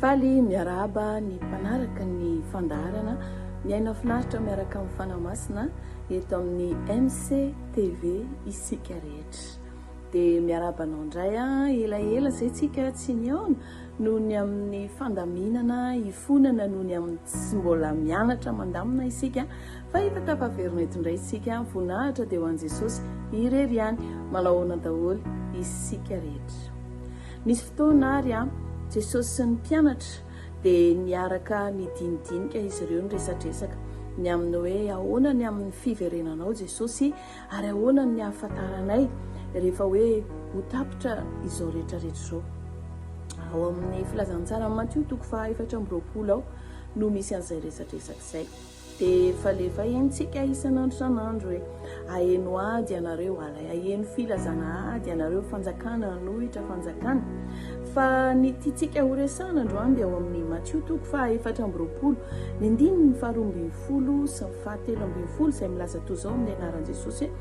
Faly miarahaba ny mpanaraka ny fandaharana Miaina Finaritra miaraka amin'ny Fanahy Masina eto amin'ny MC TV isika rehetra. Dia miarahaba anao indray ah, elaela izay tsika tsy nihaona noho ny amin'ny fandaminana, hifonana noho ny amin'ny tsy mbola mianatra mandamina isika Fahitatra fa very mety indray isika, voninahitra dia ho an'i Jesosy irery ihany. Manao ahoana daholo isika rehetra? Nisy fotoana ary Jesosy sy ny mpianatra dia niaraka nidinidinika izy ireo niresadresaka ny amin'ny hoe ahoana ny amin'ny fiverenanao Jesosy ary ahoana ny hahafantaranay rehefa hoe ho tapitra izao rehetra rehetra izao. Ao amin'ny filazantsaran'i Matio toko faha efatra amby roapolo ao no misy an'izay resadresaka izay. Dia falefa eny tsika isan'andro isan'andro e! Aheno ady ianareo ary aheno filazana ady ianareo fanjakana hanohitra fanjakana. Fa ny tiantsika ho resahana androany dia ao amin'ny Matio toko faha efatra amby roapolo, ny andininy faha roa ambin'ny folo sy ny faha telo ambin'ny folo izay milaza toy izao amin'ny anaran'i Jesosy hoe,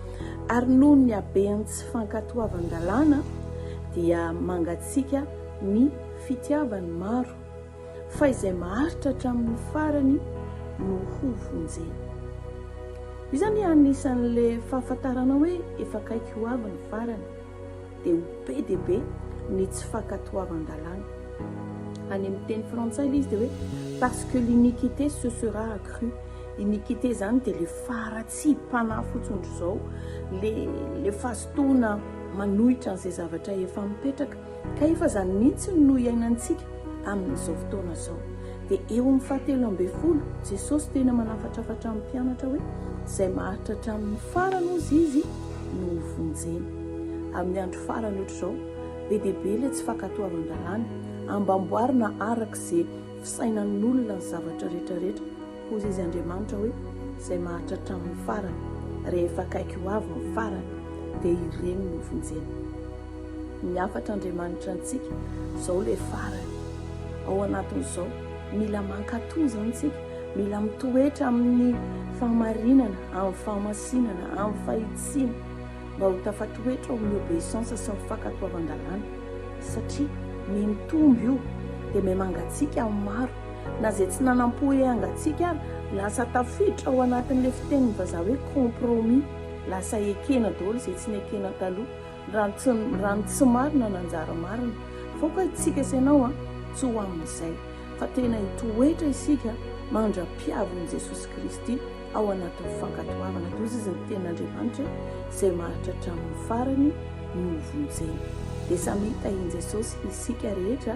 Ary noho ny haben'ny tsy fankatoavan-dalàna dia mangatsiaka ny fitiavan'ny maro. fa izay maharitra hatramin'ny farany no hovonjena. Iza anie anisan'ilay fahafantarana hoe efa akaiky ho avy ny farany, dia ho be dia be ny tsy fankatoavan-dalàna. Any amin'ny teny frantsay ilay izy dia hoe parce que l'iniquité se sera accrue. Iniquité izany dia ilay faharatsiam-panahy fotsiny ry izao, ilay fahazotoana manohitra an'izay zavatra efa mipetraka. Ka efa izany mihitsy no iainantsika amin'izao fotoana izao. Dia eo amin'ny fahatelo ambin'ny folo, Jesosy tena manafatrafatra ny mpianatra hoe, Izay maharitra hatramin'ny farany, hozy Izy, no hovonjena. Amin'ny andro farany ohatr'izao, be dia be ilay tsy fankatoavan-dalàna. Ambamboarina araka izay fisainan'olona ny zavatra rehetra rehetra. Hoy izy Andriamanitra hoe, Izay maharitra hatramin'ny farany, rehefa akaiky ho avy ny farany, dia ireny no vonjena. Ny hafatra Andriamanitra antsika, izao ilay farany. Ao anatin'izao, mila mankatò izany isika, mila mitoetra amin'ny fahamarinana, amin'ny fahamasinana, amin'ny fahitsiana, mba ho tafatoetra ao amin'ny obeissance sy ny fankatoavan-dalàna. Satria, miha mitombo io, dia miha mangatsiaka amin'ny maro. Na izay tsy nanam-po hiangatsiaka ary, lasa tafiditra ao anatin'ilay fitenin'ny vazaha hoe compromis. Lasa ekena daholo izay tsy nekena taloha. Raha ny tsy, raha ny tsy marina nanjary marina. F'aoka isika sy ianao an, tsy ho amin'izay. Fa tena hitoetra isika mandra-piavin'i Jesosy Kristy ao anatin'ny fankatoavana, toy izay ny Tenin'Andriamanitra izay maharitra hatramin'ny farany no hovonjena. Dia samy hitahian'i Jesosy isika rehetra.